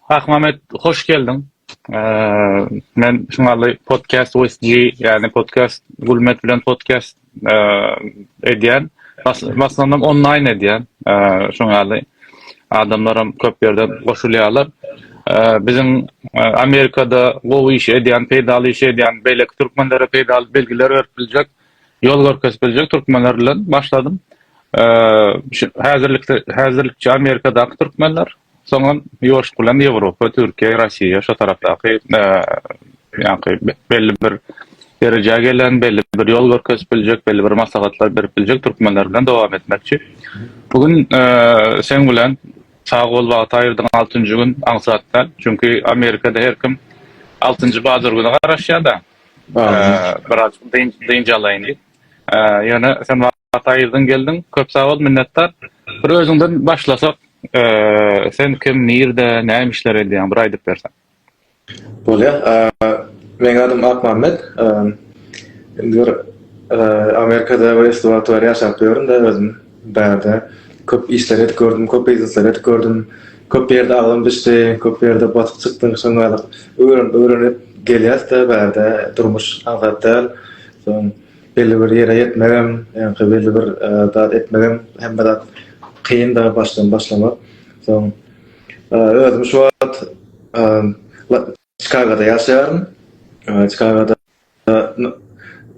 Akmamet hoş geldiň. Men şuňaly podcast with G, ýagny podcast Gülmet bilen podcast edýän. Başlanam online edýän. Şuňaly adamlaram köp ýerden goşulýarlar. Biziň Amerikada gowy iş edýän, peýdaly iş edýän beýleki türkmenlere peýdaly bilgiler berip biljek, ýol görkezip biljek türkmenler bilen başladym. Häzirlikçe Amerikadaky türkmenler. Soňam ýoşup bilen Ýewropa, Türkiýe, Rossiýa şo tarapdaky ýaňky belli bir derejä gelen, belli bir ýol görkezip biljek, belli bir maslahatlar berip biljek türkmenler bilen dowam etmekçi. Bu gün seň bilen sag bol wagt aýyrdyň altynjy gün aňsatdan. Çünki Amerikada her kim altynjy bazar güni garaşýar-da. Biraz dynç alaýyn diýip. Ýöne sen Ataýerden geldiň köp sagbol minnetdar. Bir özüňden başlasak sen kim nirde näme işler edýäň bir aýdyp berseň. Bolýa. Meniň adym Akmämmet. Indi bir Amerikada we Stewart Ware ýaşap ýörün we özüm bärde köp işler edip gördüm, köp biznesler edip gördüm. Köp ýerde agzym düşdi, köp ýerde batyp çykdym şoňa öwrenip öwrenip gelýäs-de bärde durmuş aňsat däl. Belli bir ýere ýetmegem, ýa-da belli bir zat etmegem hemme zat kynda başdan başlamak. Soň özüm şu wagt Çikagoda ýaşaýaryn. Çikagoda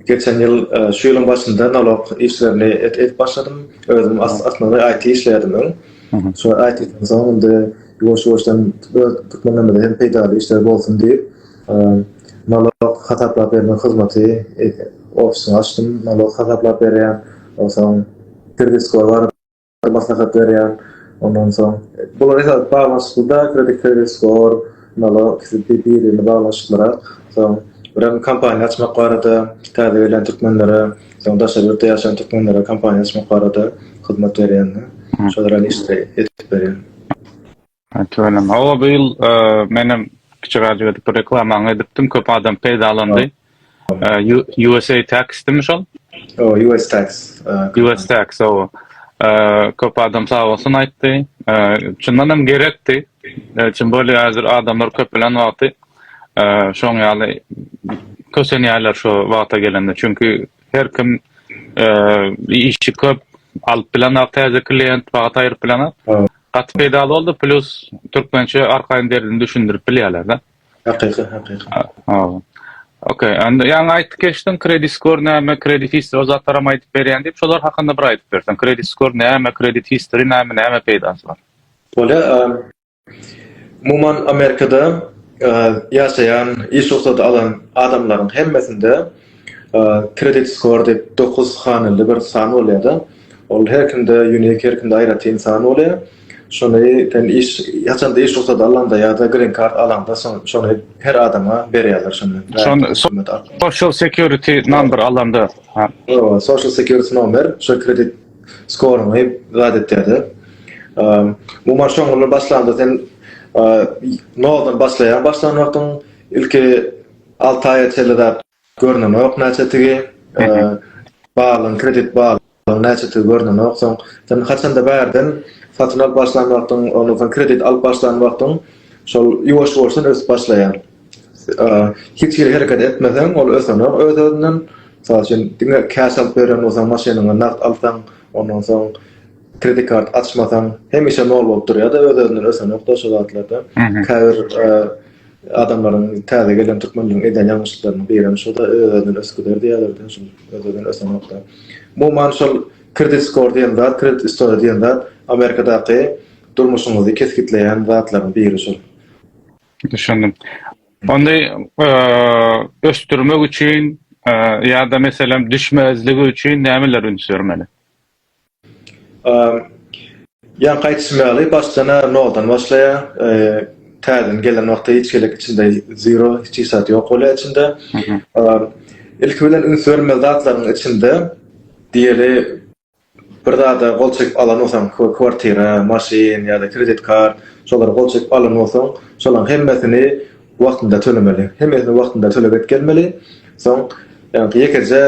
geçen ýyl şu ýylyň başynda nalog işlerini edip başladym. Özüm aslynda IT işleýärdim öň. Şu IT-den soň indi ýuwaş-ýuwaşdan türkmenlerimize hem peýdaly işler bolsun diýip, Nolog hasaplap bermek hyzmaty ofisyny açdym. Nolog hasaplap berýän, onsoň kredit-skor barada maslahat berýän. Ondan soň bular esasy baglanyşykly-da, kredit, kredit-skor, nolog ikisi bir-birine baglanyşyklyrak. Soň birem kompaniýa açmak barada, täze gelýän türkmenlere, soň daşary ýurtda ýaşaýan türkmenlere kompaniýa açmak barada hyzmat berýän-de. Şolara işleri etip berýän. Tüweleme. Hawa, bu ýyl menem kiçiräjik edip bir reklamaňy edipdim, köp adam peýdalandy. USA Tax-dimi şol? O, US Tax. US Tax, hawa. Köp adam sag bolsun aýtdy. Çyndan hem gerekdi. Çyn bolýar, häzir adamlar köp bilen wagty şoň ýaly kösenýärler şu wagta gelende. Çünki Her kim işi köp alyp bilenok täze klient wagt aýryp bilenok. Gaty peýdaly boldy plus türkmençe arkaýyn derdini düşündirip bilýärlerde. Hakyky hakyky. Hawa. Ok onda ýaňy aýtyp geçdiň kredit skor näme kredit history o zatlaram aýdyp berýän diýip şolar hakynda bir aýdyp berseň kredit skor näme kredit history näme näme peýdasy bar. Bolýar. Umuman Amerikada ýaşaýan, iş rugsady alan adamlaryň hemmesinde kredit skor diýip dokuz hanyly bir san bolýar-da. Ol her kimde unique, her kimde aýratyn san bolýar. Şony sen iş, haçanda iş rugsady alanda ýa-da green card alanda şony her adama berýärler şony. Şony social security number alanda. Hawa, social security nomer, şo kredit. Skoryňy zat etýärde. Bu maç oňundan başlanda sen noldan başlaýaň başlan wagtyň ilki alty aýa çenli zat görnenok näçetigi balyň kredit balyň näçetigi görnenok soň sen haçanda bärden satyn alyp başlan wagtyň ondan soň kredit alyp başlan wagtyň şol ýuwaş ýuwaşdan ösüp başlaýar Hiç hili hereket etmeseň, ol ösenok öz-özünden. Mysal üçin, diňe cash alyp beren bolsaň, maşynyňy nagt alsaň, ondan soň kredit kart açmasaň, hemişe nol bolup durýar-da, öz-özünden ösenok-da şo zatlar-da. Käbir adamlaryň, täze gelen türkmenleriň edýän ýalňyşlyklarynyň birem şo-da, öz-özünden ösüp gider diýýärler-de, şol öz-özünden ösenok-da. Umuman, şol kredit skor diýen zat, kredit istoriýa diýen zat Amerikadaky durmuşyňyzy kesgitleýän zatlaryň biri şol. Düşündim. Onda ösdürmek üçin ýa-da meselem düşmezligi üçin nämeler üns bermeli? Ýaňky aýdyşym ýaly başdan-a noldan başlaýar. Täzeden gelen wagty hiç gezek içinde zero, hiç zat ýok bolýar içinde. Ilki bilen üns bermeli zatlaryň içinde diýeli Bir zada gol çekip alan bolsaň, kwartira, maşyn ýa-da kredit kart, şolara gol çekip alan bolsaň, şolaň hemmesini wagtynda tölemeli. Hemmesini wagtynda tölep etgelmeli. Soň, ýagny ýekeje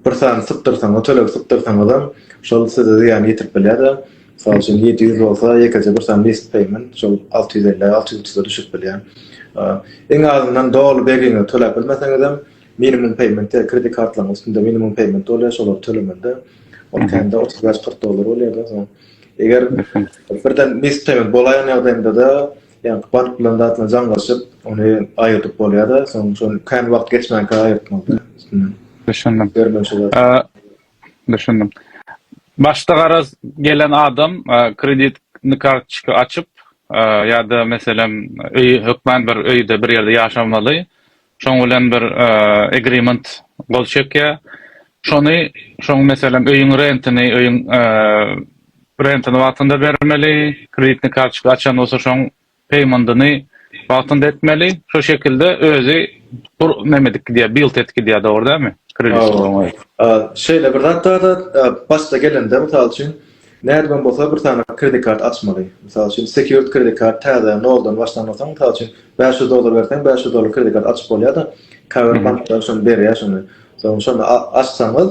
bir sany sypdyrsaňyz, tölegi sypdyrsaňyzam, şol size zyýan ýetirip bilýär-de. Mysal üçin, ýedi ýüz bolsa, ýekeje bir sany missed payment, şol alty ýüz elli, alty ýüz otuza düşürip bilýär. Iň azyndan doly begiňizi töläp bilmeseňizem, Minimum payment diýer, kredit kartlaryň üstünde minimum payment bolýar, şolary tölemende ol kände otuz bäş, kyrk dollar bolýar-da, soň eger birden missed payment bolaýan ýagdaýynda-da, ýa-da bank bilen zat bilen jaňlaşyp, ony aýyrdyp bolýar-da, soň şony kän wagt geçmänkä aýyrtmaly-da üstünden. Düşündim. Düşündim. Başda garaz gelen adam kredit kartoçka açyp ýa-da meselem öýi hökmän bir öýde bir ýerde ýaşamaly, şoň bilen bir agreement gol çekýär. Şony şoň meselem öýüň rentini, öýüň rentini wagtynda bermeli, kreditni kartoçka açan bolsa şoň peýmendyny wagtynda etmeli. Şo şekilde özi bur neme edip gidýär, build edip gidýär dogry dälmi? Kredit. Şeýle bir zat bar-da, başda gelende mysal üçin Nädibem bolsa bir sany kredit kart açmaly. Mysal üçin, secured kredit kart täze, noldan başlanylsa, mysal üçin, bäş ýüz dollar berseň, bäş ýüz dollar kredit kart açyp bolýar-da, käbir banklar şony berýär şony. Soň şony açsaňyz,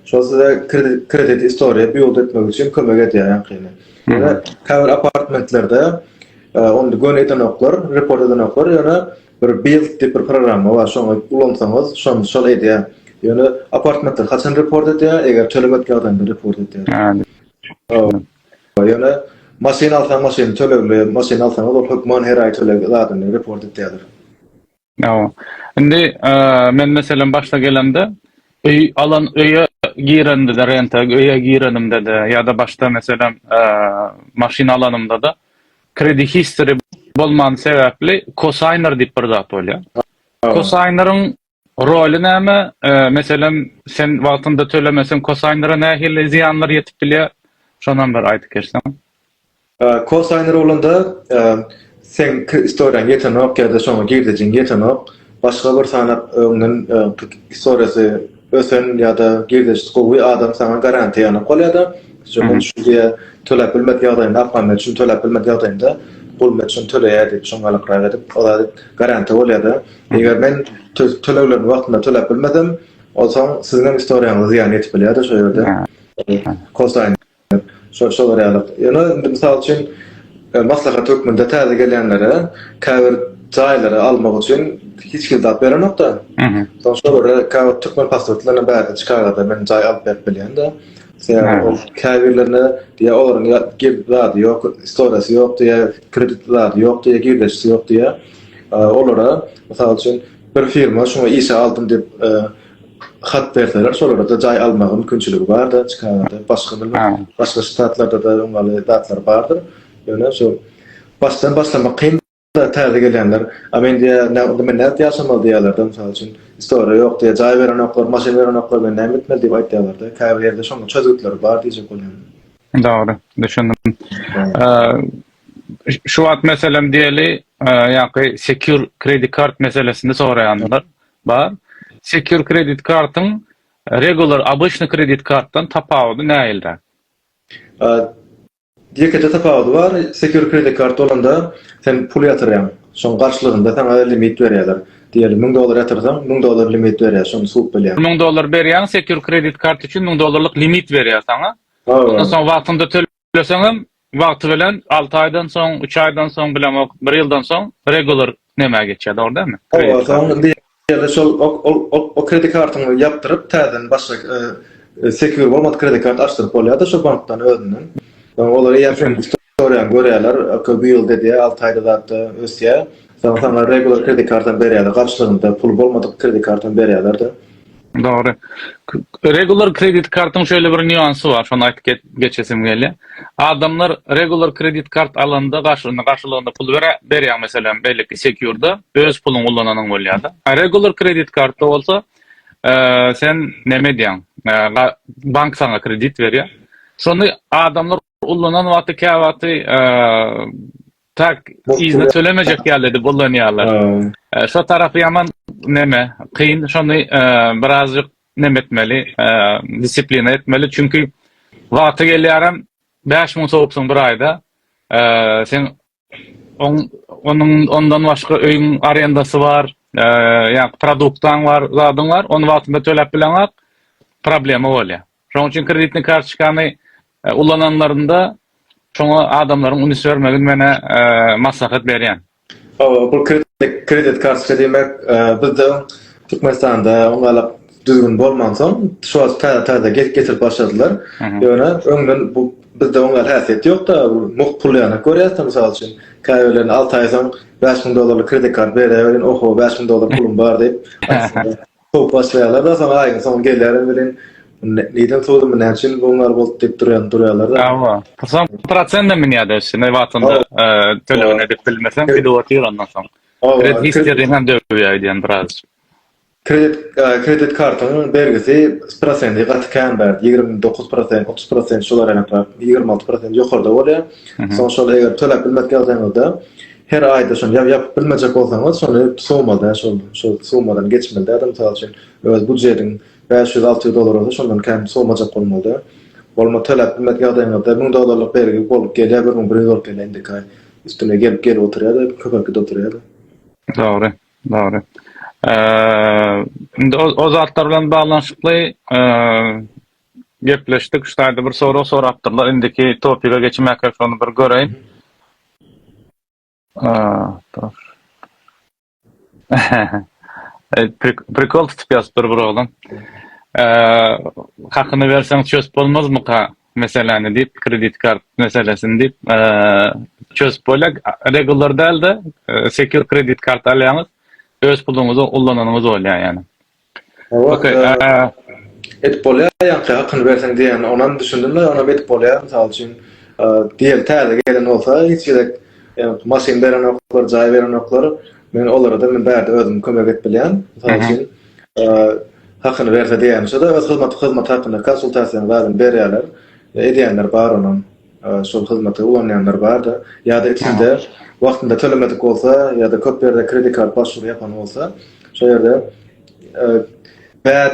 şol size kredit kredit istoriýa build etmek üçin kömek edýär ýaňkyny. Ýöne käbir apartmentlerde e, ony göni edenoklar, report edenoklar, ýöne Bir Build diýip bir programma bar şony ulansaňyz şony şol edýär. Ýöne apartmentler haçan report edýär eger tölemedik ýagdaýynda report edýär. Hä. Ýöne maşyn alsaň maşyny tölegli maşyn alsaňyz ol hökman her aý töleg zadyny report edýärler. Ýa. Indi men meselem başda gelemde öý alan öýe girendede renta öýe girenimdede ýa-da başda meselem maşyn alanymdada Credit history bolman sebäpli kosaýner diýip bir zat bolýar. Kosaýneryň roly näme? Meselem, sen wagtynda tölemeseň kosaýnera nähili zyýanlar ýetip bilýär? Şonam bir aýdyp geçseň. Kosaýner bolanda seň istoriýaň ýetenok ýa-da şoňa girdejiň ýetenok. Başga bir sanap öňden istoriýasy ösen ýa-da girdejisi gowy adam saňa garantiýa ýanap galýar-da, şuňa şu diýýär, töläp bilmedik ýagdaýynda Akmammet üçin töläp bilmedik ýagdaýynda Gulmyrat üçin töleýär diýip, şoňa gylykrak edip, ol zady garantiýa bolýar-da. Eger men töleglerini wagtynda töläp bilmesem, onsoň siziňem istoriýaňyza zyýan ýetip bilýär-de şo ýerde. Kosaýyn. Şo şolar ýaly. Ýöne indi mysal üçin maslahat hökmünde täze gelýänlere käbir jaýlary almak üçin hiç kim zat berenokda. Mhm. Soň şolara käbir türkmen pasportlaryna bärde Çikagada men jaý alyp berip bilýände. Sebäbi ol käbirlerine diýýär olaryň ýa girdi zady ýok, istoriýasy ýok diýýär, kredit zady ýok diýýär, girdeçisi ýok diýýär. Olara mysal üçin bir firma şuňa işe aldym diýip hat berseler şolarda jaý almaga mümkinçiligi barda çikagada başga bilmedim başga ştatlarda da öň ýaly zatlar bardyr ýöne şol başdan başlamak kyn täze gelýänler a men diýä näme men nädip ýaşamaly diýýärlerde mysal üçin istoriýa ýok diýä jaý berenoklar maşyn berenoklar men näme etmeli diýip aýtýarlarda käbir ýerde şonuň çözgütleri bar diýjek bolýan Dogry, düşündim. Şu wagt meselem diýeli, ýaňky secure credit card meselesini soraýandylar. Bar. Secure kredit kartyň regular, obyçny kredit kartdan tapawudy nähilde? Ýekeje tapawudy bar. Secure kredit kart bolanda sen pul ýatyrýaň. Şoň garşylygynda saňa limit berýärler. Diýeli müň dollar ýatyrsaň, müň dollar limit berýär. Şony suwup bilýäň. Müň dollar berýäň, secure kredit kart üçin müň dollarlyk limit berýär saňa. Ondan soň wagtynda Isleseňem wagty bilen alty aýdan soň, üç aýdan soň, bilemok, bir ýyldan soň regular nämä geçýär, dogry dälmi? Kredit karta. Ýa-da şol o kredit kartyňy ýapdyryp, täzeden başga secure bolmadyk kredit kart açdyryp bolýar-da şol bankdan özünden. Olar eýýäm seniň istoriýaňy görýärler, okey bu ýylda edýär, alty aýda zat-da ösýär. Soň saňa regular kredit kartam berýärler, garşylygynda puly bolmadyk kredit kartam berýärler-de. Dogry. Regular kredit kartyň şeýle bir nýuansy bar, şony aýdyp geçesim gelýär. Adamlar regular kredit kart alanda garşylygynda pul berýär, meselem, beýleki sekurda öz puluňy ulananyň bolýar-da. A regular kredit kartda bolsa, sen näme edýäň? Bank saňa kredit berýär. Şony adamlar Ullanan wagty käwagty tak yzyna tölemejek ýalydy bullanýarlar. Şo tarapy ýaman neme kyn şony birazjyk neme etmeli disiplina etmeli çünki wagty gelýärem bäş müň sowupsyň bir aýda sen Oň onuň ondan başga öýüň arendasy bar, eee, ýa produktaň bar, zadyň bar, ony wagtynda töläp bileňok, problema bolýar. Şonuň üçin kreditni kartoçkany ulananlarynda şoňa adamlaryň üns bermegini men, eee, maslahat berýän. Hawa, bu kredit kartoçka diýmek, eee, bizde Türkmenistanda oňa-da düzgün bolmansoň, şu wagt täze-täze getirip başladylar. Ýöne öňden bu bizde oňa häsiýet ýok-da, mugt pul ýanak görýäs-de, mysal üçin, käbirlerine alty aý soň bäş müň dollarlyk kredit kart berýäweriň, oho, bäş müň dollar pulum bar diýip, sowup başlaýarlar-da, soň aýyň soňy gelýärem welin, nirden sowdum, näme üçin bu bar boldy diýip durýarlar-da. Hawa, soň prosentden münýär-de, şeýle wagtynda tölegini edip bilmeseň, gidip otyr ondan soň. Kredit historyňam döwýär eýdýän biraz. Kredit kredit kartyň bergisi prosenti gaty kän bärde ýigrimi dokuz prosent otuz prosent şular ýaly ýigrimi alty prosent ýokarda bolýar soň şol eger töläp bilmek ýagdaýyňyzda her aýda şony ýap ýapyp bilmejek bolsaňyz şony sumada şol şol sumadan geçmeli däl mysal üçin öz budjetiň bäş ýüz alty ýüz dollar bolsa şondan kän sumajak bolmaly däl bolma töläp bilmek ýagdaýyňyzda müň dollarlyk bergi bolup gelýär bir müň bir ýüz bolup gelýär indiki aý üstüne gelip gelip oturýar köpelip gidip oturýar dogry Dogry. Indi o zatlar bilen baglanyşykly gepleşdik. Şu taýda bir sorag sorapdyrlar. Indiki topige geçmäkek şony bir göreýin. Dur. Prikol tutup ýazypdyr bir oglan. Hakyny berseň çös bolmazmyka? meseläni diýip kredit kart meselesini diýip çözüp bolýar regular dälde secure kredit kart alýaňyz öz puluňyzy ullananyňyz bolýar ýani edip bolýar ýa hakyny berseň diýýän onam düşündim men onam edip bolýar mysal üçin diýeli täze gelen bolsa hiç gerek maşyn berenoklar jaý berenoklar men olara da men bärde özüm kömek edip bilýän mysal üçin hakyny berse diýýän şo-da öz hyzmaty hyzmaty hakynda konsultasiýanyň zadyny berýärler edýänler bar onuň şol hyzmaty ulanýanlar barda ýa-da içinde wagtynda tölemedik bolsa ýa-da köp ýerde kredit kart başwury ýapan bolsa şo ýerde bad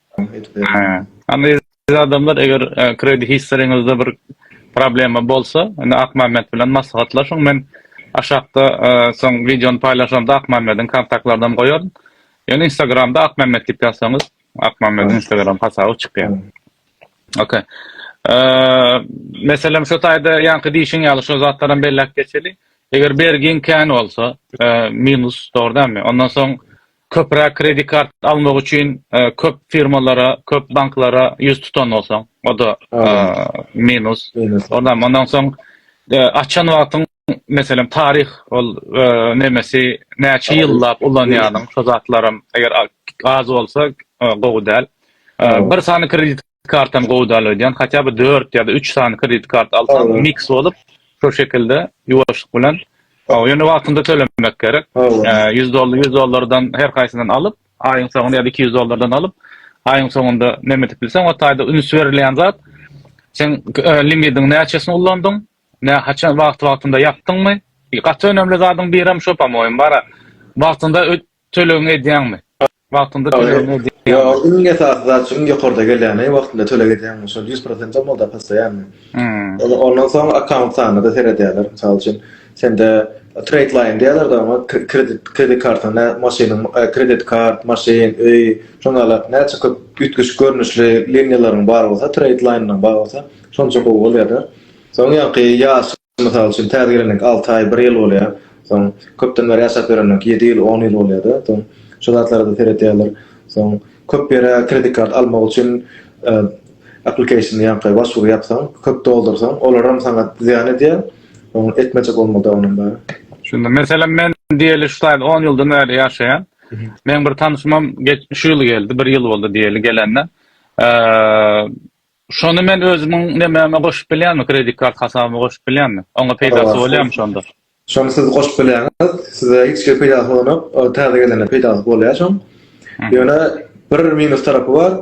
Aziz adamlar eger kredit historyňyzda bir problema bolsa indi Akmämmet bilen maslahatlaşyň men aşakda soň wideony paýlaşamda Akmämmediň kontaktlardan goýaryn. Ýöne instagramda Akmämmet diýip ýazsaňyz Akmämmediň instagram hasaby çykýar. Ok. Meselem şu taýda ýaňky diýşiň ýaly şu zatlaram belläp geçeli. Eger bergiň kän bolsa minus dogry dälmi ondan soň Köpräk kredit kart almak üçin köp firmalara, köp banklara ýüz tutan bolsaň, o-da minus. Ondan soň açan wagtyň, meselem, taryh, ol nemesi näçe ýyllap ulanýanyň, şo zatlaram eger az bolsa gowy däl. Bir sany kredit kartany gowy dal ödyan hatya bir dört ya da üç sany kredit kart alsaň mix bolup şu şekilde yuwaşlyk bilen ýöne wagtynda tölemek gerek ýüz dollar ýüz dollardan her haýsyndan alyp aýyň soňunda ýa-da iki ýüz dollardan alyp aýyň soňunda näme edip bilseň o taýda üns berilýän zat sen limidiň näçesini ullandyň nä haçan wagt wagtynda ýapdyňmy gaty önemli zadyň biri hem şu pamoýim bara wagtynda Tölegiňi edýäňmi? Wagtynda tölegiňi edýäňmi? Ýok, iň esasy zat şu iň ýokarda gelýäni wagtynda töleg edýäňmi? Şol ýüz prosent bolmaly-da postoýanny. Ondan soň akkaunt sanyna-da seredýärler. Mysal üçin, sende trade line diýýärler-de oňa, kredit, kredit karta, nä maşynyň, kredit kart, maşyn, öý, şoňa galak näçe köp üýtgeşik görnüşli liniýalaryň bar bolsa, trade line-laň bar bolsa, şonça gowy bolýar-da. Soň ýaňky ýaşy. Mysal üçin, täze gelenleriňki alty aý, bir ýyl bolýar. Soň, köpden bäri ýaşap ýörenleriňki ýedi ýyl, on ýyl bolýar-da. Soň, şu zatlara-da seredýärler. Soň, köp ýere kredit kart almak üçin aplikasiýony, ýaňky başwury ýapsaň, köp doldursaň, olaram saňa zyýan edýär. Ony etmejek bolmaly-da onam bäri. Şunda, meselem, men diýeli şu taýda on ýyldan bäri ýaşaýan. Meň bir tanşymam şu ýyl geldi, bir ýyl boldy diýeli gelenine. Şony men özümiň nemäme goşup bilýänmi, kredit kart hasabyma goşup bilýänmi? Oňa peýdasy bolýamy şonda? Şony siz goşup bilýäňiz, size hiç hili peýdasy bolanok, ol täze gelene peýdasy bolýar şoň. Ýöne bir minus tarapy bar,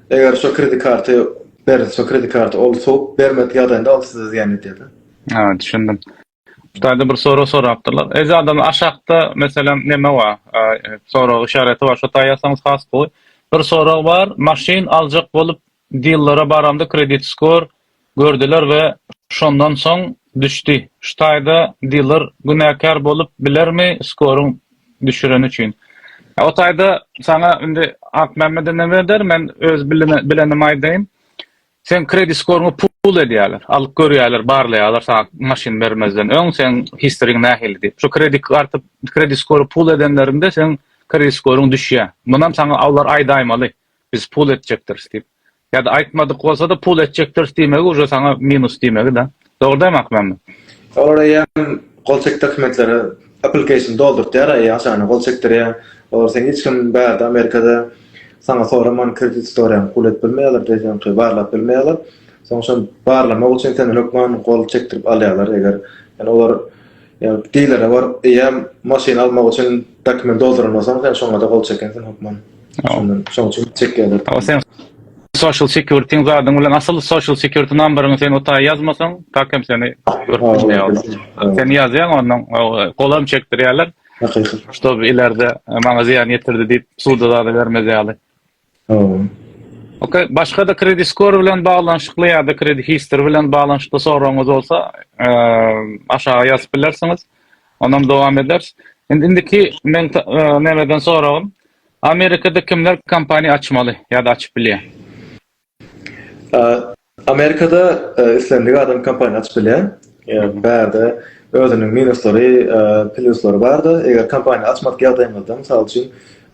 eger şo kredit karty berlse, kredit karty ol sowup bermedik ýagdaýynda ol size zyýan edýär-de. Hä, düşündim. Bu taýda bir sorag sorapdyrlar. Eje adam aşakda meselem neme bar? Sorag işareti bar. Şo taýy ýazsaňyz has gowy. Bir sorag bar. Maşyn aljak bolup dillara baramda kredit skor gördiler we şondan soň düşdi. Şu taýda diler günäkär bolup bilermi skoryň düşüreni üçin? O taýda saňa indi Akmämmede neme eder? Men öz bilenim aýdaýyn. Seň kredit skoryňy pull edýärler, alyp görýärler, barlaýarlar saňa maşyn bermezden öň seň historyň nähili diýip. Şu kredit karty, kredit skory pull edenlerinde seň kredit skoryň düşýär. Munam saňa olar aýdaýmaly, biz pull etjekdiris diýip. Ýa-da aýtmadyk bolsa-da pull etjekdiris diýmegi uje saňa minus diýmegi-de. Dogurdam Akmammet. Olar eýýäm gol çek dokumentlere application doldurtýar eý aşana gol çekdirýär olar seň hiç kim bärde amerikada saňa soraman kredit istoriýaňy pul edip bilmeýärler deýseňki barlap bilmeýärler soň şony barlamak üçin senden hökman gol çekdirip alýarlar eger ýani olar Ýa dilere baryp, eýýäm maşyn almak üçin dokument doldurandan soň sen şoňa-da gol çekensiň hökman. Şondan şoň üçin çekýärler. Ol seň social security zadyň bilen asyl social security numberyňy sen o taý ýazmasaň, tak hem seni görüp bilmeýärler. Sen ýazýaň ondan golam çekdirýärler. Hakyky. Ştoby ilerde maňa zyýan ýetirdi diýip suda zada bermez ýaly. Sagboluň. Ok, başga-da kredit skor bilen baglanyşykly ýa-da kredit history bilen baglanyşykly soragyňyz bolsa, aşaga ýazyp bilersiňiz. Onam dowam ederis. Indi indiki meň nämeden soragym, Amerikada kimler kompaniýa açmaly ýa-da açyp bilýär? Amerikada islendik adam kompaniýa açyp bilýär. Bärde özüniň minuslary, plýuslary barda, eger kompaniýa açmadyk ýagdaýyňyzda, mysal üçin,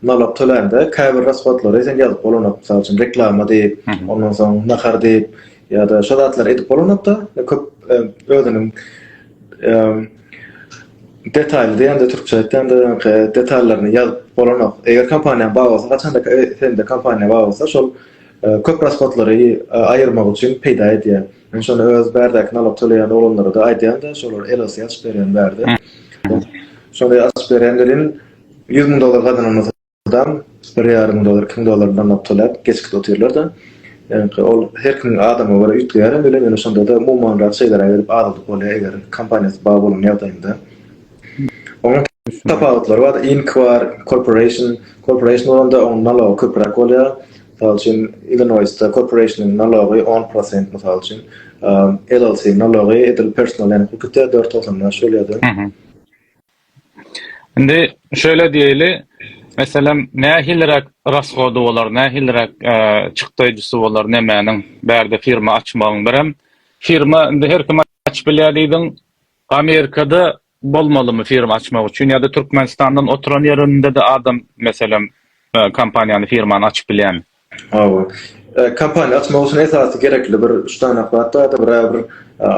nalog tölände käbir rashodlary sen ýazyp bolanok, mysal üçin, reklama diýip, ondan soň nahar diýip ýa-da şo zatlary edip bolanok-da, köp özüniň detaýly diýende, türkçe aýtýanda, ýaňky detallaryny ýazyp bolanok. Eger kompaniýaň bar bolsa, haçanda sende kompaniýa bar bolsa, şol köp rashodlary aýyrmak üçin peýda edýär. Men şony öz bärdäki nalyk töleýän oglanlara-da aýdýan-da, şolar LLC açyp berýän bärde. Şony açyp berýän welin, ýüz müň dollar gazananymyzdan bir ýarym müň dollar, iki müň dollar nalyk töläp, geçgit otyrlar-da. Ýagny, ol her kimiň adama görä üýtgeýär hem welin, ýöne şonda-da umumanrak şeýleräk edip azaldyp bolýar, eger kompaniýasy bar bolan ýagdaýynda. Onuň tapawutlary bar, Inc. Bar, Corporation, Corporation bolanda onuň nalogy köpräk bolýar. Mysal üçin, Illinoisda Corporation-yň nalogy on prosent, mysal üçin, LLC nalogy edil Personal ýaly hukuk etýär, dört togsan bäş bolýar. Indi şeýle diýeli, meselem, nähiliräk rasgody bolar, nähiliräk çykdaýjysy bolar nemäniň, bärde firma açmagyň birem, firma indi her kim açyp bilýär diýdiň. Amerikada bolmalymy firma açmak üçin ýa-da Türkmenistandan oturan ýerinde-de adam meselem kompaniýany firmany açyp bilýärmi? Hawa. Kompaniýa açmak üçin esasy gerekli bir üç sany zat bar, driver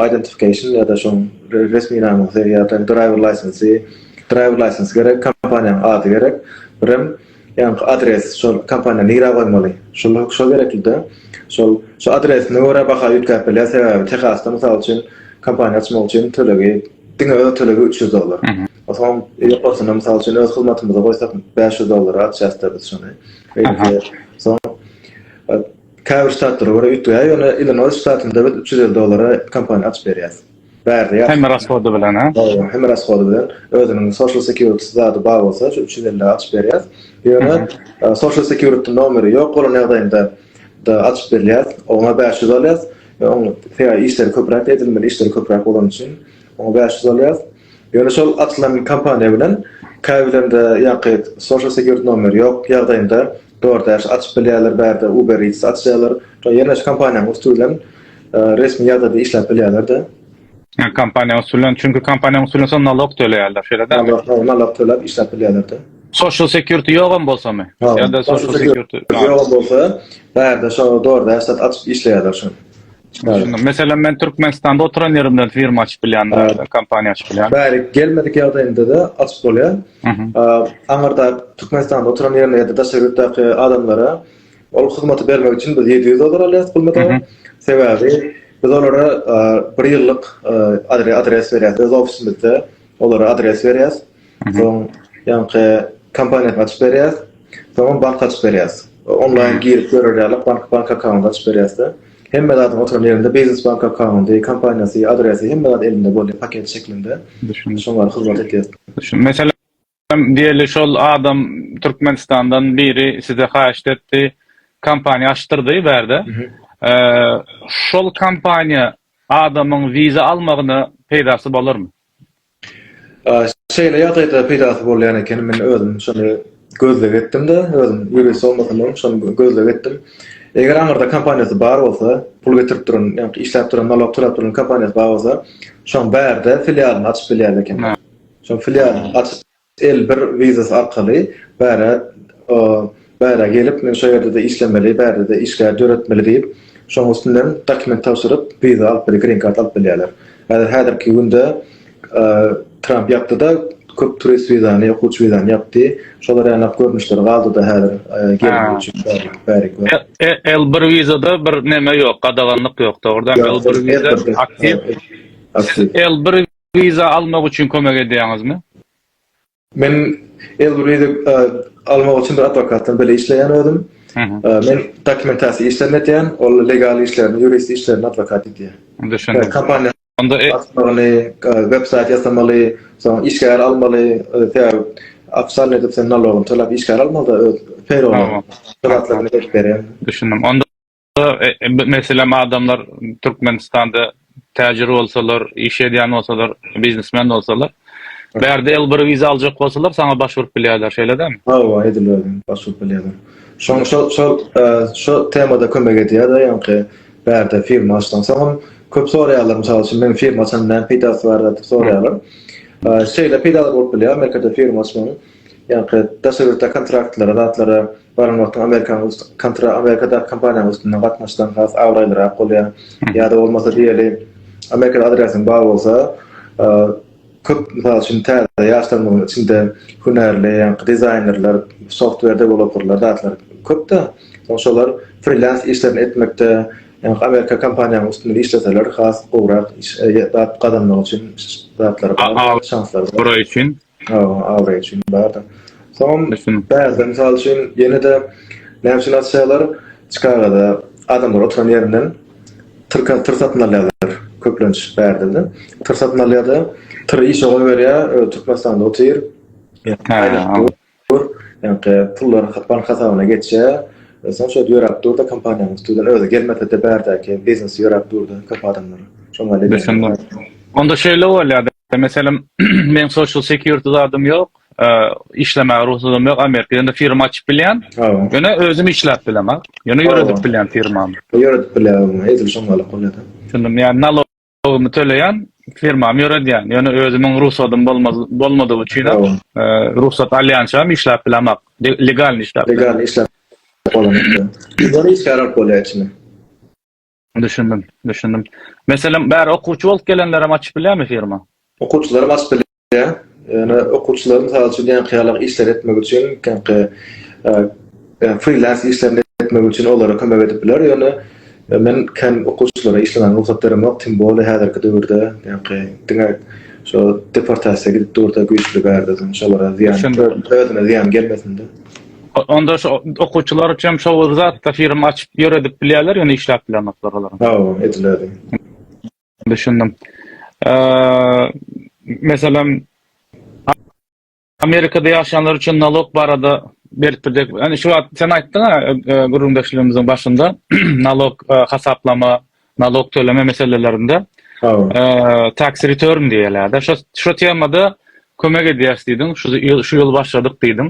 identification ýa-da şoň resminamasy ýa-da driver license, driver license gerek, kompaniýanyň ady gerek, birem Ýaňky adres şol kompaniýa nirä goýmaly? Şol şol gereklide. Şol şu adresine görä baha üýtgäp bilýär sebäbi Tehasda mysal üçin kompaniýa açmak üçin tölegi diňe öz tölegi üç ýüz dollar. O soň ýokarsyna mysal üçin öz hyzmatymyzy goýsak bäş ýüz dollara açýasda biz şony. Beýleki soň käbir ştatlara görä üýtgeýär ýöne Illinois ştatynda biz üç ýüz elli dollara kompaniýa açyp berýäs. Bärde ýatyp. Hem raskody bilen he. Hawa, hem raskody bilen. Özüniň social security zady bar bolsa şu üç ýüz elli açyp berýär. Ýöne social security nomeri ýok bolan ýagdaýynda da açyp berýär. Oňa bäş ýüz alýar. Oň sebäbi işleri köpräk edilmeli, işleri köpräk bolany üçin oňa bäş ýüz alýar. Ýöne şol açylan kompaniýa bilen käbirlerinde ýaňky social security nomeri ýok ýagdaýynda DoorDash açyp bilýärler, bärde Uber Eats açýarlar. Şo ýerleşik kompaniýanyň üsti bilen resmi ýagdaýda işläp bilýärler-de. Ýa kompaniýanyň üsti bilen, çünki kompaniýanyň üsti bilen soň nalog töleýärler, şeýle dälmi? Nalog, hawa, nalog töläp işläp bilýärler-de. Social security ýogam bolsamy? Ýa-da social security ýogam bolsa, bärde şo DoorDash zat açyp işleýärler şony. Düşündim. Meselem men Türkmenistanda oturan yerimden firma açyp bilyan, evet. kompaniya açyp bilyan. Bari gelmedik yagdayında da açyp bolyan. Anarda Türkmenistanda oturan yerine ya da daşa yurtdaki adamlara ol hizmeti bermek için biz 700 dolar alyas bulmada. Sebebi biz olara bir yıllık adres veriyiz. Biz ofisimizde olara adres veriyiz. Soň ýaňky kompaniýasyny açyp berýäs. Soňam bank açyp berýäs. Onlaýn girip görer ýaly bank bank akkaunt açyp berýäs-de. Hemme zadyň oturan ýerinde biznes bank akkaundy, kompaniýasy, adresi hemme zat elinde bolýar paket şeklinde. Düşündim. Şoňa hyzmat edýäs. Düşün. Meselem, diýeli şol adam Türkmenistandan biri size haýyşt etdi, kompaniýa açdyrdy bu ýerde. Şol kompaniýa adamyň wiza almagyna peýdasy bolarmy? Şeýle ýagdaýda peýdasy bolýan ekeni, men özüm şony gözleg etdim-de, özüm ýurist bolmasam-da, şony gözleg etdim. Eger aňyrda kompaniýasy bar bolsa, pul getirip duran, ýagny işläp duran, nalog tölap duran kompaniýasy bar bolsa, şoň bärde filialyny açyp bilýärdi ekenler. Şoň filialyny açyp. Elbir vizas arkaly bärä bärä gelip men şo ýerde-de işlemeli bärde-de işgär döretmeli diýip şoň üstünden dokument tabşyryp viza alyp bile green kart alyp bilýärler. Häzir häzirki günde Tramp ýapdyda köp turist vizany okuwçy vizany ýapdy şolar ýanap görnüşleri galdyda häzir gelmek üçin bäri bäri. Elbir vizada bir neme ýok gadaganlyk ýok dogrudan elbir viza aktiw elbir Elbriza almak üçin kömek edýäňizmi? Men Elbriza almak üçin bir adwokatdan bile işleýän özüm. Men dokumentasiýa işlerini edýän, ol legal işlerini, ýurist işlerini adwokat edýär. Düşündim. Kompaniýa Onda açmaly, websaýt ýasamaly, soň işgär almaly, sebäbi ofissialny edip sen nalogyny tölap işgär almaly-da öz peýrolyňy. Şol zatlar berýär. Düşündim. Onda Meselem, adamlar Türkmenistanda täjir bolsalar, iş edýän bolsalar, biznesmen bolsalar, bärde L1 wiza aljak bolsalar, saňa baş urup bilýärler, şeýle dämi? Hawa, edil özi, baş urup bilýärler. Şoň şo, şo, şo temada kömek edýär-de, ýaňky bärde firma açsaň, soňam köp soraýarlar, mysal üçin, meniň firma açan näme peýdasy bar diýip soraýarlar. Şeýle peýdalar bolup bilýär, Amerikada firma açmagyň. Ýaňky daşary ýurtdaky kontraktlara, zatlara baran wagtyň amerikanyň üsti, kontra, amerikadaky kompaniýanyň üstünden gatnaşsaň has abraýlyrak bolýar. Ýa-da bolmasa diýeli, amerikada adresiň bar bolsa, köp mysal üçin täze ýaşlarymyzyň içinde hünärli, ýaňky dizaýnerler, software dewelopperler, zatlar köp-de, soň şolar frilans işlerini etmekde, ýaňky amerika kompaniýanyň üstünden işleseler has gowrak iş, zat gazanmak üçin zatlar bar, şanslary bar. Hawa, abraý üçin bar-da. Soňam bärde, mysal üçin, ýene-de näme üçin açýarlar, Çikagada adamlar oturan ýerinden tyrka tyr satyn alýarlar, köplenç bärde-de. Tyr satyn alýar-da, tyry işe goýberýär, özi Türkmenistanda otyr, ýa-da pullar bank hasabyna geçýär. Soň şeýdip ýöräp dur-da, kompaniýanyň üstünden özi gelmese-de bärdäki biznesi ýöräp dur-da, köp adamlaryň şoňa ýaly. Onda şeýle bolýar-da, Meselem, meň social security zadym ýok, işlemäge rugsatym ýok, Amerika ýerinde firma açyp bilýän. Ýöne özüm işläp bilen, ýöne ýöredip bilýän firmamy. Ýöredip bilýän, edil şoň ýaly bolýar-da. Düşündim, ýa nalogymy töleýän, firmamy ýöredýän, ýöne özümiň rugsatym bolmadygy üçin, rugsat alýançam işläp bilen, legalny işläp bilen. Legalny işläp bilen. Ýöne işgär alyp bolýar içine. Düşündim, düşündim. Meselem, bäri okuwçy bolup gelenlerem açyp bilýärmi firma? Okuwçylarym açyp bilýär. Ýöne okuwçylar mysal üçin ýaňky işleri etmek üçin, ýaňky frilans işlerini etmek üçin olara kömek edip biler. Ýöne men kän okuwçylara işlemäge rugsat beremok, tim bole häzirki döwürde ýaňky diňe şo deportasiýa gidip dur-da güýçli bärde şolara zyýan, özüne zyýan gelmesin-de. Onda şu okuwçylar üçin şu bir zatda firma açyp ýöredip bilýärler, ýöne işläp bilenoklar olar. Ha, ediler. Düşündim. Eee, meselem, Amerikada ýaşaýanlar üçin nalog barada berip biljek. Ýani şu wagt sen aýtdyň-a, gürrüňdeşligimiziň başynda nalog hasaplama Nalog töleme meselelerinde tax return diýilýär. Şu şu temada kömek edýäris diýdiň. Şu ýyl şu ýyl başladyk diýdiň.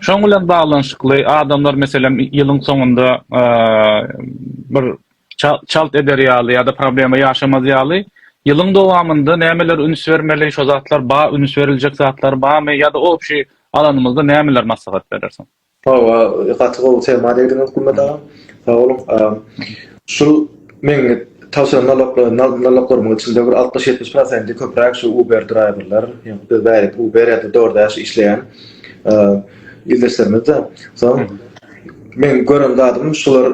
Şoň bilen baglanyşykly adamlar meselem ýylyň soňunda bir çalt eder ýaly ýa-da problema ýaşamaz ýaly ýylyň dowamynda nämelere üns bermeli, şo zatlar bar, üns beriljek zatlar barmy ýa-da obşi alanymyzda nämeler maslahat berersiň? Hawa gaty gowy tema degdiňiz Gulmet aga. Sag boluň. Şul meň tabşyran naloglarymyň içinde bir altmyş ýetmiş prosenti köpräk şu uber draýwerler ýa-da bärik uber ýa-da doordash işleýän ildeşlerimizde. Soň meň gören zadym şular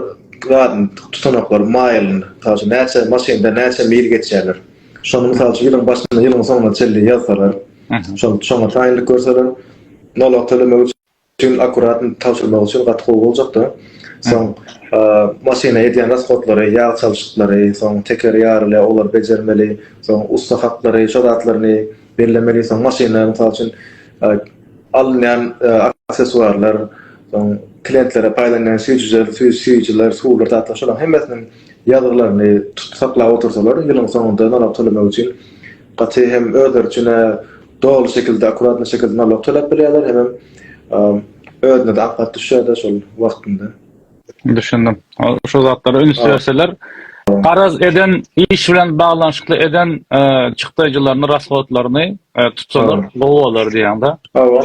zadyny tutanaklar maýylyny mysal üçin näçe maşynda näçe mil geçýärler. Şony mysal üçin ýylyň başyndan ýylyň soňuna çenli ýazsalar. Şony şoňa taýynlyk görseler nalog tölemek üçin. Tüm akkuratny tabşyrmak üçin gaty gowy boljakda. Soň maşyna edýän rashodlary, ýag çalşyklary, soň tekeri ýarylýar, olary bejermeli, soň ussa haklary, şo zatlaryny bellemeli, soň maşyna mysal üçin alynýan aksessuarlar, soň klientlere paýlanýan süýjüler, süýjüler, suwlar, zatlar şolaryň hemmesiniň ýazgylaryny tutup saklap otursalar, ýylyň soňunda nalog tölemek üçin gaty hem özleri üçin-ä Doly şekilde akuratny şekilde nalog töläp bilýärler hemem özüne de apat düşýärde şol wagtynda. Düşündim. Şu zatlara üns berseler, garaz eden iş bilen baglanyşykly eden çykdaýjylaryny, rashodlaryny tutsalar gowy bolar diýýäňda.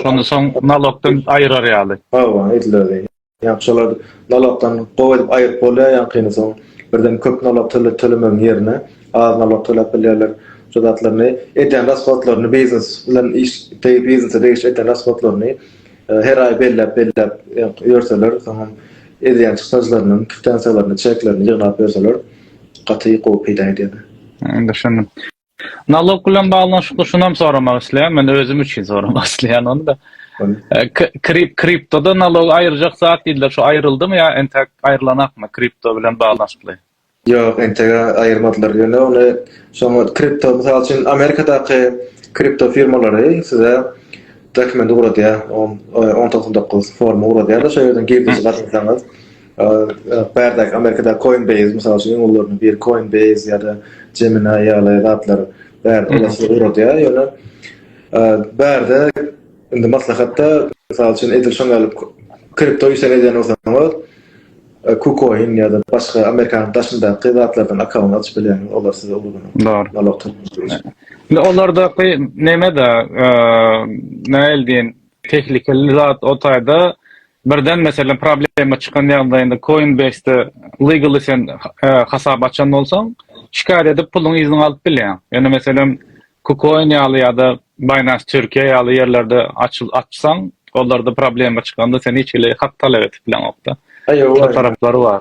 Şonda soň nalogdan aýrar ýaly. Hawa, edileli. Ýa şolar nalogdan gowy edip aýyryp bolýar ýaňkyny soň birden köp nalag tölemegiň ýerine az nalag töläp bilýärler şu zatlaryny edýän rashodlaryny biznes bilen iş degi biznese degişli edýän rashodlaryny her aý belläp belläp ýörseler soňam edýän çykdajylarynyň kwitansiýalaryny çeklerini ýygnap ýörseler gaty gowy peýda edýärler. Düşündim. Nalog bilen baglanyşykly şunam soramak isleýän, men özüm üçin soramak isleýän ony-da. Krip kriptoda nalog aýyrjak zat diýdiler, şu aýryldymy ýa entek aýrylanakmy kripto bilen baglanyşykly? Ýok, entek aýyrmadylar. Ýöne ony şoňa kripto, mysal üçin, Amerikadaky kripto firmalary size dokumenti gurady, on dokuz dokuz formy gurady, şol ýerden girdeji gazansaňyz, Bärde Amerikada Coinbase mysal üçin ýollaryny bir Coinbase ýa-da Gemini ýaly zatlar bärde olasy uradýar. Ýöne bärde indi maslahatda mysal üçin edil şoň ýaly kripto işler edýän bolsaňyz KuCoin ýa-da başga Amerikanyň daşyndaky zatlardan akkaunt açyp bilýäňiz. Olar size ulugyny. Dogry. Indi olardaky neme-de nähili diýen tehlikeli zat o taýda Birden meselem problema çykan ýagdaýynda Coinbase-de legally sen hasap açan bolsaň, şikaýat edip puluňy yzyňa alyp bilýäň. Ýöne meselem KuCoin ýaly ýa-da Binance Türkiýe ýaly ýerlerde açsaň, olarda problema çykanda sen hiç hili hak talap edip bileňokda. Şol taraplary bar.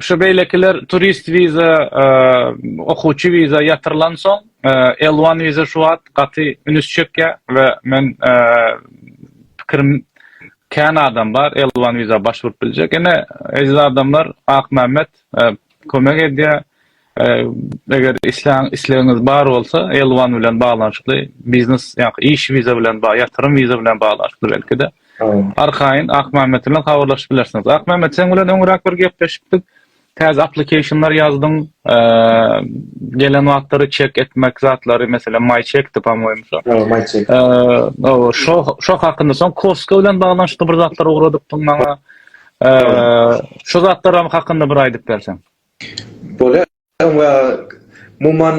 Şu beýlekiler turist wiza, okuwçy wiza ýatyrylan soň, L-one wiza şu wagt gaty ünüs çekýär we men pikirim kän adam bar L-one wiza başwurt biljek. Ine eziz adamlar Akmämmet kömek edýär. Eger islän islegiňiz bar bolsa, Elwan bilen baglanyşykly biznes, ýa-da iş wiza bilen, ýatyrym wiza bilen baglanyşykly belki-de, arkaýyn Akmämmet bilen habarlaşyp bilersiňiz. Akmämmet, seň bilen öňräk bir gepleşipdik. Täze application-lar ýazdyň. Gelen wagtlary çek etmek zatlary, meselem, MyCheck-di, pamýoýym, şo. Hawa, MyCheck. Hawa, şo, şo hakynda. Soň Costco bilen baglanyşykly bir zatlar ugradypdyň maňa. Şo zatlaram hakynda bir aýdyp berseň. Bolýar we umuman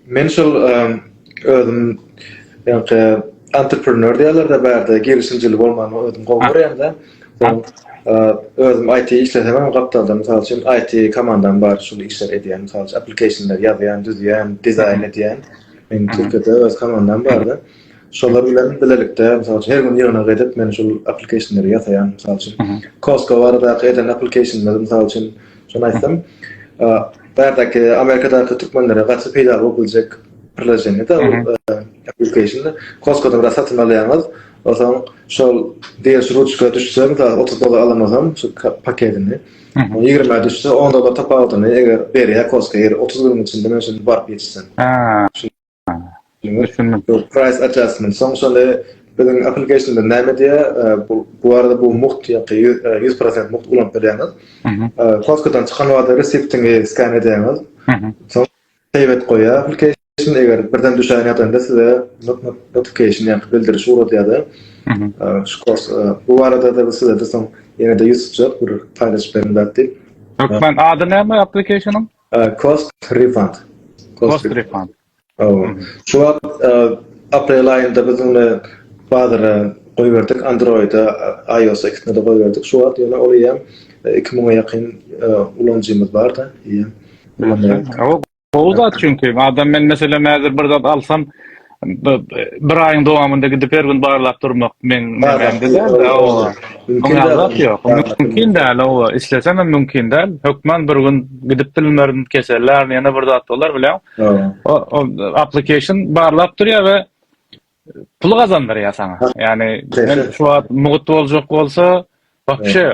men şol özüm ýaňky entreprenör diýýärler-de bärde girişimcili bolmany özüm gowy görýän-de. Özüm IT işlesemem gapdalda mysal üçin IT komandam bar şul işleri edýän mysal üçin application-leri ýazýan, düzýän, dizaýn edýän. Meň Türkiýede öz komandam bar-da. Şolar bilen bilelikde, mysal üçin, her gün ýygnak edip, men şol applicationleri ýasaýan, mysal üçin. Costco baradaky eden applicationleri, mysal üçin, şony aýtsam, bärdäki Amerikadaky türkmenlere gaty peýdaly bolup biljek priloženiýe-de, application-da. Costco-dan biraz satyn alýaňyz, onsoň şol beriş ruçka düşse, mysal, otuz dollar alansoň, şol paketini, ýigrime düşse, on dollar tapawudyny eger berýär Costco, eger otuz günüň içinde men şuny baryp ýetişsem. Diňe price adjustment soň şony biziň applicationda näme diýýär? Bu bu arada bu mugt ýa-da ýüz prosent mugt ulanyp bilýäňiz. Costco-dan çykan wagtda reseptiňi skan edýäňiz. Soň save et goýýar application. Eger birden düşen ýagdaýynda size notification ýa-da bildiriş ugradýar-da. Şu kurs bu barada-da size-de soň ýene-de ýüz tutjak bir paýlaşyp beriň zat diýip. Türkmen ady näme application-yň? Cost refund. Cost refund. Hawa. Şu wagt e, aprel aýynda biz ony bazara goýberdik, Android-a, iOS-a ikisine de goýberdik. Şu wagt ýöne ol ýa 2000-e ýakyn e, ulanyjymyz bar-da, ýa. Gowy zat çünki adam men meselem häzir bir zat alsam bir aýyň dowamynda gidip her gün barlap durmak meň nämämde däldi hawa mümkin zat ýok mümkin däl hawa islesem hem mümkin däl hökman bir gün gidip bilmerin keseller ýene bir zat bolar bilen o application barlap durýar we pul gazandyrýar saňa ýagny men şu wagt mugt boljak bolsa Wapşe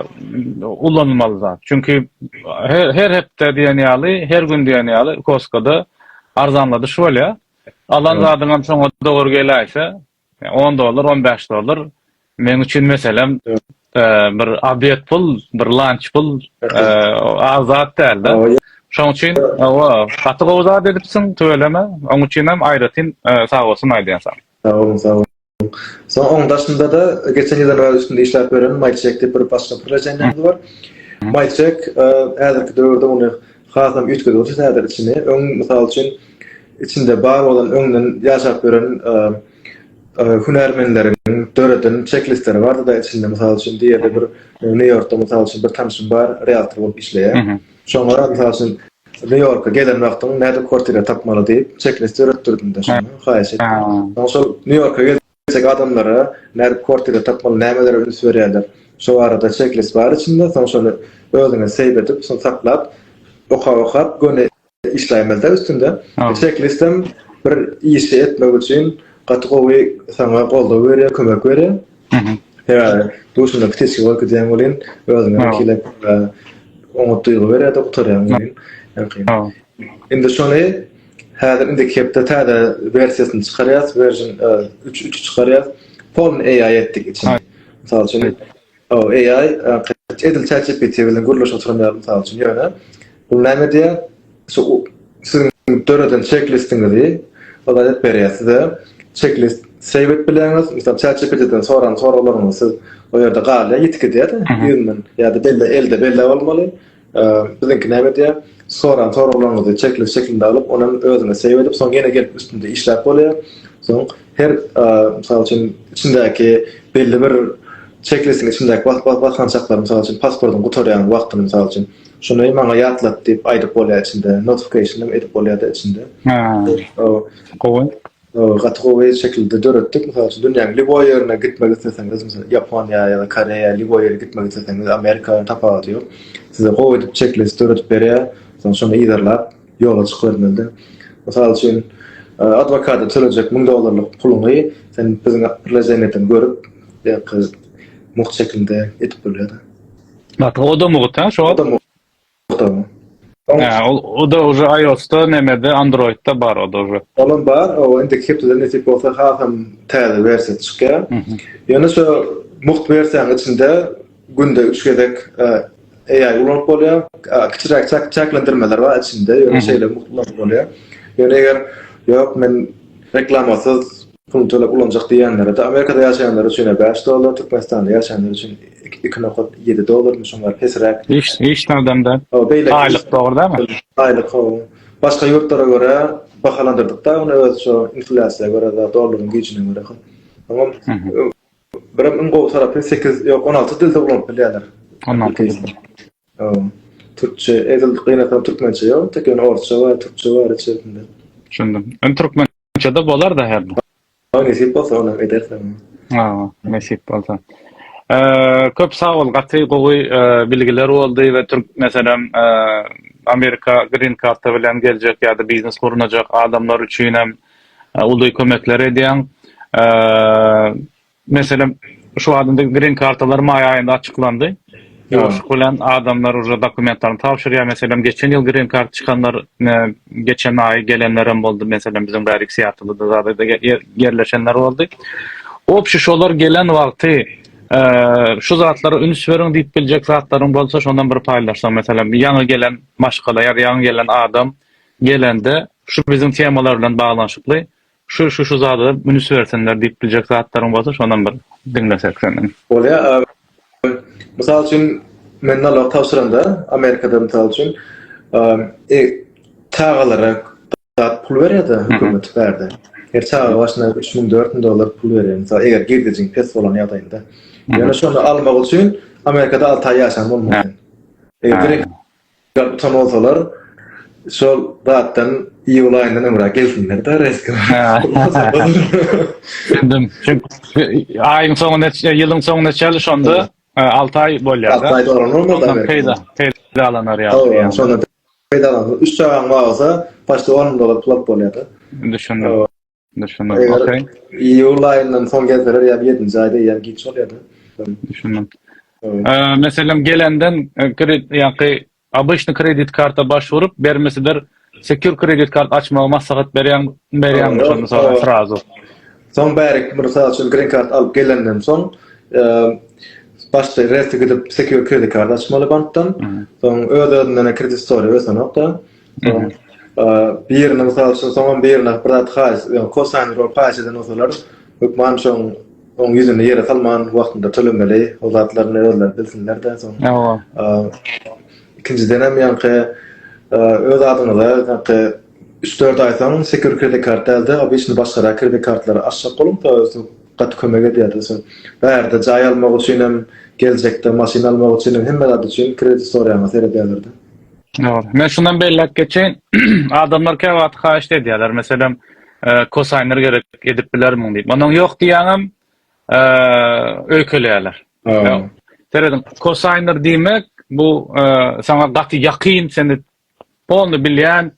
ulanmaly zat. Çünki her her hepde diýen ýaly, her gün diýen ýaly Koskada arzanladyş bolýar. Alan zadyňam şoňa dogry geläýse, on dollar, on bäş dollar, meň üçin meselem, bir obed pul, bir lanç pul, az zat däl-de. Şoň üçin, hawa, gaty gowy zat edipsiň, tüweleme, oň üçinem aýratyn sag bolsun aýdýan saňa. Sag boluň, sag boluň. Soň oň daşynda-da geçen ýyl ýaly üstünde işläp ýören Maýçek diýip bir başga bir legendaňyz bar. Maýçek häzirki döwürde ony hasam üýtgedipdir täze içini. Öň, mysal üçin, içinde bar bolan öňden ýaşap ýören hünärmenleriň döreden çek-listleri bardy-da içinde, mysal üçin, diýeli bir Nýu-Ýorkda, mysal üçin, bir tanşym bar, realtor bolup işleýär. Şoňa, mysal üçin, Nýu-Ýorka gelen wagtyň nädip kwartira tapmaly diýip çeklis döretdirdim-de şonda, haýyş etdim. Soň şol Nýu-Ýorka geljek adamlara nädip kwartira tapmaly, nämelere üns berýärler, şo barada çeklis bar içinde, soň şony özüňe seýw edip, şony saklap, okap-okap göni işläýmeli-dä üstünde. Çeklisem bir işi etmek üçin gaty gowy saňa goldaw berýär, kömek berýär. Ýa-da duşunda piteçki bolup gidýän welin, özüňe wekilek oňat duýgy berýär-de gutarýaň welin. Indi şony häzir indiki hepde täze wersiýasyny çykarýas, version 3 üçi çykarýas. Polny AI etdik içini. Mysal üçin, o AI edil ChatGPT bilen gürleşip oturan ýaly mysal üçin. Ýöne bu näme diýýär? Şu siziň döreden çeklistiňizi ol edip berýär size. Çeklist save edip bileňiz. Mysal ChatGPT-den soran soraglaryňyz siz o ýerde galýar, ýitip gidýär-de ýüzünden. Ýa-da belli elde belläp almaly. Biziňki näme edýär? Soran soraglaryňyzy çeklist şeklinde alyp, ony hem özüne save edip, soň ýene gelip üstünde işläp bolýar. Soň her mysal üçin içindäki belli bir çeklistiň içindäki basgançaklary mysal üçin pasportyň gutarýan wagtyny mysal üçin Şuny maňa ýatlat diýip aýdyp bolýar içinde. Notification hem edip bolýar-da içinde. Gowy. Gaty gowy şekilde döretdik. Mysal üçin, dünýäniň lýuboý ýerine gitmek isleseňiz, mysal Ýaponiýa ýa-da Koreýa, lýuboý ýere gitmek isleseňiz, Amerika, tapawudy ýok. Size gowy edip çeklis döredip berýär. Soň şony yzarlap, ýola çykybermeli-de. Mysal üçin, adwokata tölejek müň dollarlyk puluňy sen biziň priloženiýadan görüp, ýa-da mugt şekilde edip bolýar-da. Bak o da mugut ha şo. Ha o da уже iOS-da nemede Android-da bar o da уже. Olam bar. O indi hepdeden nesip bolsa hasam täze wersiýasy çykýar. Ýöne şo mugt wersiýanyň içinde günde 3 gezek AI ulanyp bolýar. Kiçiräk çäklendirmeler bar içinde. Ýöne şeýle mugt ulanyp bolýar. Ýöne eger ýok men reklamasyz Puluny töläp ulanjak diýýänlere-de Amerikada ýaşaýanlar üçin bäş dollar, Türkmenistanda ýaşaýanlar üçin iki nokat ýedi dollar, şoňa baryp pesräk. Iş taldanda aýlyk dogrudanam. Aýlyk hawa. Başga ýurtlara görä bahalandyrdyk-da ony öz şo inflýasiýa görä we dollaryň güýjüne görä hem. Oňam birem iň gowy tarapy sekiz ýok on alty dilde ulanyp bilýärler. On alty dilde. Hawa. Türkçe edil gynasam türkmençe ýok, tek ýöne orsça we türkçe bar içerisinde. Düşündim. Türkmen Şunça-da bolar-da her bir. Maňa nesip bolsa onam edersiň. Ha, nesip bolsa. Köp sag bol, gaty gowy bilgiler boldy we türk meselem Amerika green karta bilen geljek ýa-da biznes gurnajak adamlar üçinem uly kömekler edýäň. Meselem, şu wagtda grin kartalar maý aýynda açyklandy. Ýoşluk bilen adamlar uje dokumentlerini tabşyrýar. Meselem, geçen ýyl grin karta çykanlar geçen aýy gelenlerem boldy. Meselem, biziň bäri iki syýatlydada zadada ýerleşenler boldy. Obşi şolar gelen wagty şu zatlara üns beriň diýip biljek zatlaryň bolsa şondan bir paýlaşsaň. Meselem, ýaňy gelen maşgala ýa-da ýaňy gelen adam gelende şu biziň temalar bilen baglanyşykly Şu şu şu zada ünüs bersinler diýip biljek zatlaryň bolsa şonam bir diňlesek senden. Bolýa abi. Mysal üçin men nalog tabşyranda Amerikada mysal üçin e çagalara zat pul berýärdi hökümet bärde. Her çaga başyna 3000-4000 dollar pul berýär. Mysal eger girdejiň pes bolan ýagdaýynda. Ýöne şonu almak üçin Amerikada 6 aý ýaşan bolmaly. Eger Ýa utan bolsalar şol zatdan iýul aýynda nömra gelsinler-de reýsge. Düşündim. Aýyň soňuna çenli, ýylyň soňuna çenli şonda alty aý bolýar-da. Alty aý dolanyp peýda peýdalanar ýaly. Şonda peýdalanyp üç çagaň bolsa başda on müň dollar pul alyp bolýar-da. Düşündim. Düşündim. Okey. Iyul ayyndan son gelseler ya 7-nji aýda ya giç bolýar. Düşündim. Meselem gelenden e, kredit ýaňky обычный kredit karta başvurup bermesidir secure kredit kart açmagy maslahat berýän berýän şonu soň srazu. Soň bärik bir saat üçin green card alyp gelenden soň e, başda resti gidip secure kredit kart açmaly bankdan. Soň öz özünden kredit story ösenokda. Soň birine mysal üçin, soňam birine bir zat haýyş, ýa kosaýny bolup haýyş eden bolsalar, hökman şoň oň ýüzüni ýere salman wagtynda tölemeli. Ol zatlaryny özleri bilsinler-de soň. Hawa. Ikinjidenem ýaňky öz adyňyza ýaňky üç-dört aý soň sekür kredit kart däl-de, obyçny başgarak kredit kartlary açjak boluň, soň gaty kömek edýär-de soň. Bärde jaý almak üçinem, geljekde maşyn almak üçinem hemme zat üçin kredit soraýana seredýärler-de. Ýok. Men şundan belläp geçeýin. Adamlar käwagt haýyşt edýärler. Meselem, kosaýnlar gerek edip bilermiň diýip. Onuň ýok diýýäňem, öýkeleýärler. Serediň, kosaýnlar diýmek, bu saňa gaty ýakyn, seni polny bilýän,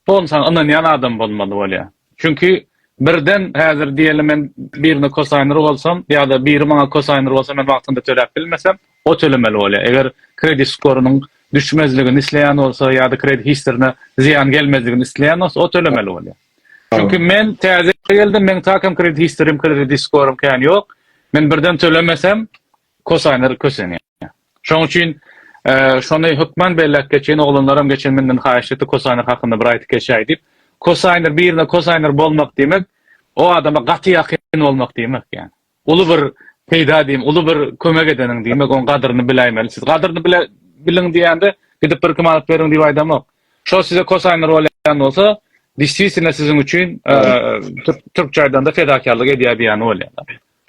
polny saňa ynanýan adam bolmaly bolýar. Çünki birden häzir diýeli men birine kosaýnr bolsam ýa-da biri maňa kosaýnr bolsa men wagtynda töläp bilmesem o tölemeli bolýar. Eger kredit skorynyň düşmezligini isleýän bolsa ýa-da kredit historine zyýan gelmezligini isleýän bolsa o tölemeli bolýar. Çünki men täze geldim meň takem kredit historim kredit skorym kän ýok. Men birden tölemesem Kosaýnlar kösenýär. Şoň üçin şony hökman belläp geçeýin, oglanlaram geçen menden haýyş etdi, kosaýnlar hakynda bir aýtyp geçäý diýip. Kosaýnlar birine kosaýnlar bolmak diýmek, o adama gaty ýakyn bolmak diýmek ýa. Uly bir peýda diýmek, uly bir kömek edeniň diýmek, oň gadyryny biläýmeli. Siz gadyryny bile biliň diýende, gidip bir kim alyp beriň diýip aýdamok. Şo size kosaýnlar bolýan bolsa, distwisina siziň üçin türkçe aýdanda fedakarlyk edýär diýýäni bolýar.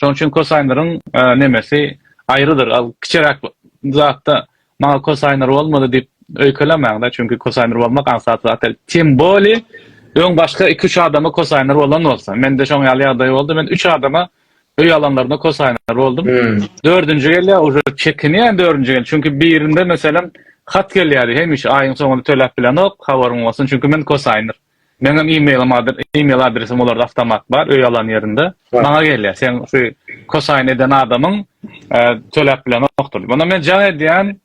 Şonuň üçin kosaýnlaryň nemesi aýrydyr. Al kiçiräk zatda maňa kosaýnlar bolmady diýip öýkelemäň-de, çünki kosaýnlar bolmak aňsat zat däl. Tym boli öň başga iki-üç adama kosaýnlar bolan bolsa. Mende şoň ýaly ýagdaý boldy. Men üç adama öý alanlarynda kosaýnlar boldum. Dördünji gelýär, uje çekinýän dördünji gel. Çünki birinde meselem hat gelýärdi, hemişe aýyň soňunda töläp bilenok, habaryň bolsun, çünki men kosaýnlar. Meňem emailym email adresim olarda awtomat bar öý alan ýerinde. Maňa gelýär. Sen şu kosaýyn eden adamyň e, töläp bilenokdyr. Bana men jaň edýän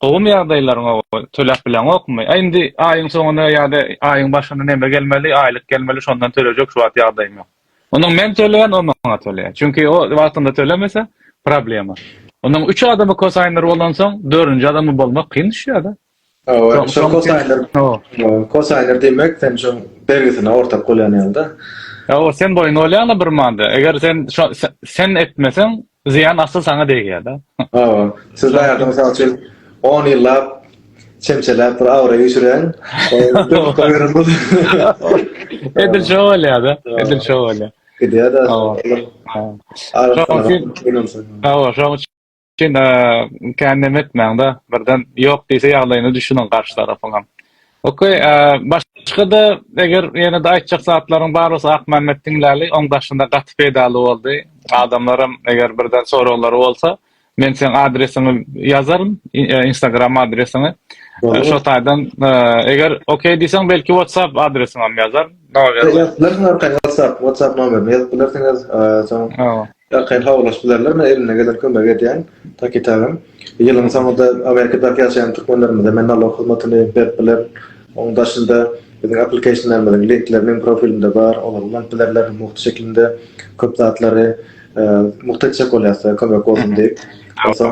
gowum ýagdaýlaryňa töläp bilenokmy? Aý indi aýyň soňuna ýa-da aýyň başyna neme gelmeli? Aýlyk gelmeli, şondan tölejek şu wagt ýagdaýym ýok. Onuň men töleýän, o maňa töleýär. Çünki o wagtynda tölemese problema. Onuň üç adamy kosaýynlar bolansoň, dördünji adamy bolmak kyn düşýär-de. Owa, şol kosaýnlar. Owa, kosaýnlar demek, sen şu bergisini ortak bolýan ýaly-da. Owa, sen boýun bolýaň-da bir manda. Eger sen şo sen etmeseň, zyýan asyl saňa degýär-de. Owa, siz baýarda mysal üçin 10 ýyllap çemçeläp bir abraý öçüräň. Edil şo bolýar-da. Edil şo bolýar. Gidýär-de. Owa. Owa, şoň üçin. Şeýle kän neme etmäňde, birden ýok diýse ýagdaýyna düşüniň garşy tarapyňam. Okey, başga-da eger ýene-de aýtjak zatlaryň bar bolsa Akmämmet diňläli, oň daşynda gaty peýdaly boldy. Adamlaram eger birden soraglary bolsa, men seň adresiňi ýazaryn, instagram adresiňi. Şo taýdan eger okey diýseň belki whatsapp adresiňem ýazaryn. WhatsApp, WhatsApp nomerini ýazyp bilersiňiz. Soň ýakaýyn habarlaşyp bilerler. Men elimden gelen kömegi edýän. Taky taýdan. Ýylyň soňunda Amerikadaky ýaşaýan türkmenlerimize men nalog hyzmatyny berip bilerin. Onuň daşynda biziň applicationlarymyzyň linkleri meň profilimde bar. Olary ulanyp bilerler. Mugt şeklinde köp zatlary mugt etjek bolýasda kömek bolsun diýip.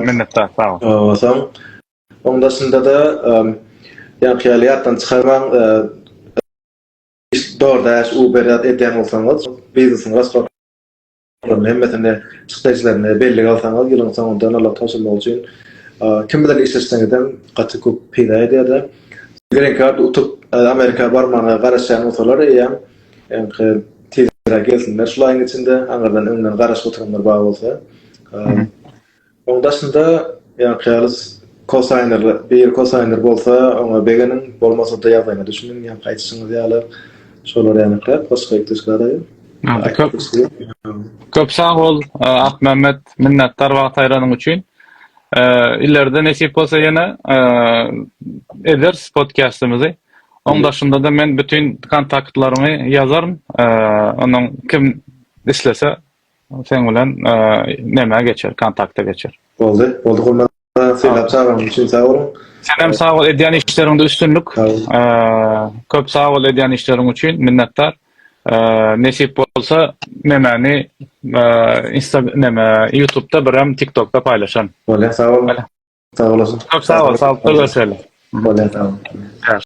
Minnetdar. Sag bol. Soň onuň daşynda-da ýaňky ýaly ýatdan çykarmaň. DoorDash, Uber ýa-da edýän bolsaňyz, biznesiniň restoran olaryň hemmesini çykdajylaryny bellige alsaňyz, ýylyň soňunda nala goşulmak üçin kim bilen işleşseňizem gaty köp peýda edýärdi. Green Card utup Amerika barmaga garaşýan bolsalar eýýäm ýaňky tizräk gelsinler şul aýyň içinde aňyrdan öňden garaşyp oturanlar bar bolsa. Oň daşynda ýaňky ýaly kosaýner bir kosaýner bolsa oňa begeniň bolmasada ýagdaýyňa düşüniň ýaňky aýdyşyňyz ýaly şolar ýanyňkyrak başga ýüpdüşgäraýyň. Köp sag bol Akmämmet minnetdar wagt aýranyň üçin. Ileride nesip bolsa ýene ederis podkastymyzy. Oň daşynda-da men bütin kontaktlaryňy ýazaryn. Onuň kim islese Seň bilen nämä geçer kontakta geçer. Boldy boldy gurban sylap çagyryň üçin sag boluň. Senem sag bol edýän işleriňde üstünlik. Köp sag bol edýän işleriň üçin minnetdar. Nesip bolsa nemäni insta näme ýutubda birem tiktokda paýlaşan. Bolýar sag bol. Sag olasyn. Köp sag bol saglyk görşeli. Bolýar sag bol.